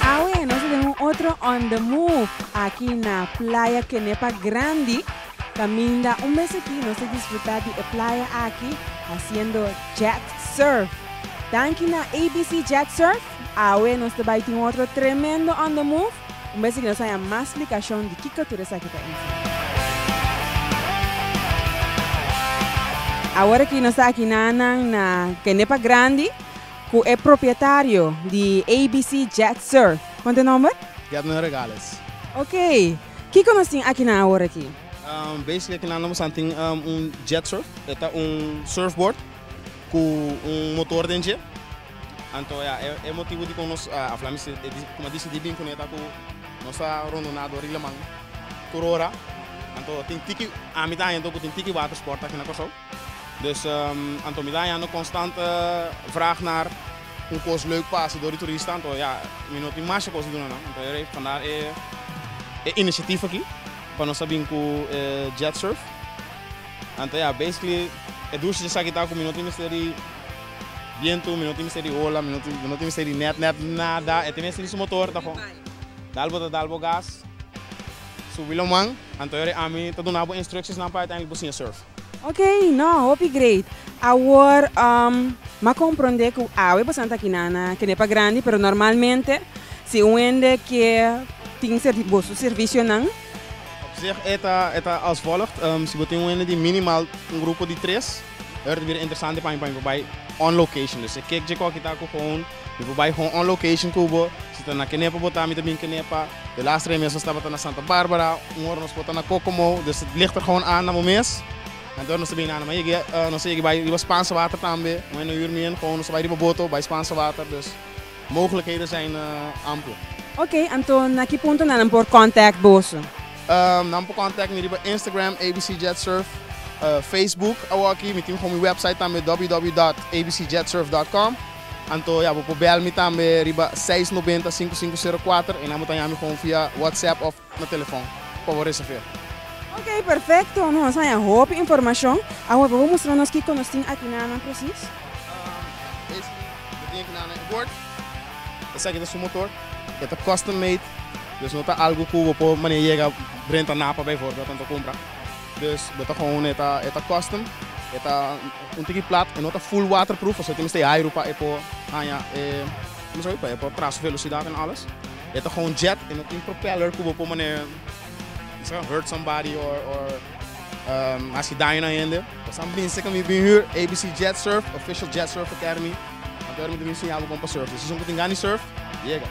Awe nos ta den un otro on the move aki na Playa Kenepa Grandi kaminda un mes aki nos a disfruta di e playa aki hasiendo jet surf. Danki na ABC Jet Surf. Awe nos ta bai tin otro tremendo on the move, un bes aki nos a haña mas splikashon di kiko tur esaki ta info. Awor aki nos ta aki nannan na kende pa grandi ku e propietario di ABC Jet Surf, konta e nomber? Yadner Regales. Ok, kiko nos tin akinan awor aki? Basically aki nan nos a tin un jet surf, e ta un surfboard ku un motor den dje. Anto ya e motibu dikon nos a fla mi si e disip kuma disidi bin kune ta ku nos a rondoná dor di laman tur ora anto tin tiki ami ta hañando ku tin tiki water sport aki na Kòrsou dus anto mi ta hañando konstant vrag nar un kos leuk pa hasi dor di turista anto ya mi no tin masha kos di duna nan anto e panda e inishatif aki pa nos ta bin ku e jet surf anto ya basically e durshe esaki ta ku mi no tin mester di. Bientu, mi no tin mester di ola, mi no tin mester di nèt nèt nada, e ta mester di su motor ta for. Dal bo ta dal bo gas, subi lo man, anto yori ami ta duna bo instructiesnan pa uiteindelijk bo siña surf. Ok, no, hopi great. Awor m'a komprondé ku awe boso nan ta kinan a kende pa grandi, pero normalmente si un hende ke tin boso servisionan. Op zich e ta, e ta als volgt, si bo tin un hende di minimal un grupo di tres. Ora ta bira interesante pa mi pa mi por bai on location dus e ke dje koki ta ku home mi por bai home on location ku bo si ta na kenepa bo ta mi ta bin kenepa de las tres mes nos tabata na santa barbara un ora nos por ta na kokomo dus lichter home anda bo mes anto nos ta bini anda mas nos a yega bai riba spansa water tambe moen na yur mien home nos ta bai riba boto bai spansa water dus. Mogelijkheden zijn ample. Ok, anto na ki punto na nan por contact boso? Nan por contact mi riba Instagram abcjetsurf, Facebook awoki mi tin for mi website tambe www.abcjetsurf.com. Anto ya bo por bel mi tambe riba seis noventa sinku sinku sero kuater, ei nan bo ta ya mi for via WhatsApp of. na telefon pa bo reserv'é. Ok, perfecto. No nos haña hopi informacion. Awe bo por mustra nos kico nos tin aki na nan precies? Basically, bo tin aki na nan inboard. Esaki ta su motor. E ta custom made. Dus no ta algu cu bo por manera yega renta Napa bijvoorbeeld anto cumpra. Dus bo ta gewoon e ta e ta custom. E ta un tiki plat. E no ta full waterproof, pasobra tin mester e hairu pa e por haña e, como se llama, pa e por traha su velocidad en alles. E ta kon jet, e no tin propeller ku bo por mane bisa hurt somebody or or hasi daño na hende. Pasan bin seka mi bin hür ABC Jet Surf, official jet surfer ter mi. Anto er mi ta bin siña bo kon pa surf. E season ku tin gana di surf, yega.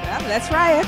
Well, let's try it.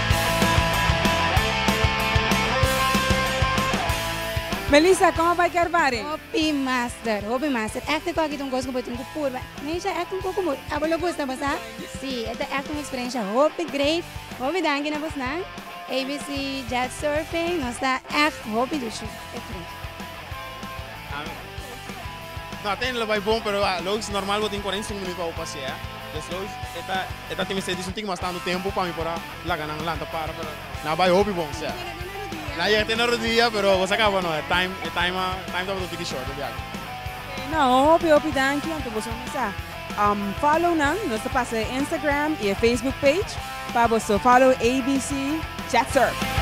Melissa con a bai Carvary? Hopi master, hopi master. Acting cu aki ta un cos cu bo tin cu purba. Neisha acting cu como abo lo gusta bo sa? Si, e ta echt un experiencia hopi great. Hopi danki na bosnan. ABC Jet Surfing nos ta echt hopi dichi. No a ta hende lo bai bon pero a loos normal bo tin cuarenta y cinco minuut pa bo pasea des loos e ta e ta tin mester dici un tin mas tanto tempo pa mi por a laga nan lanta para pero na bai hopi bon sea na yega te na rodia pero bo sa caba no e time e time a time tabata un tiki short opiado. Okay no hopi hopi danki anto boso a mesa um follow nan nos ta pasa e Instagram y e Facebook page pa boso follow ABC Chatswork.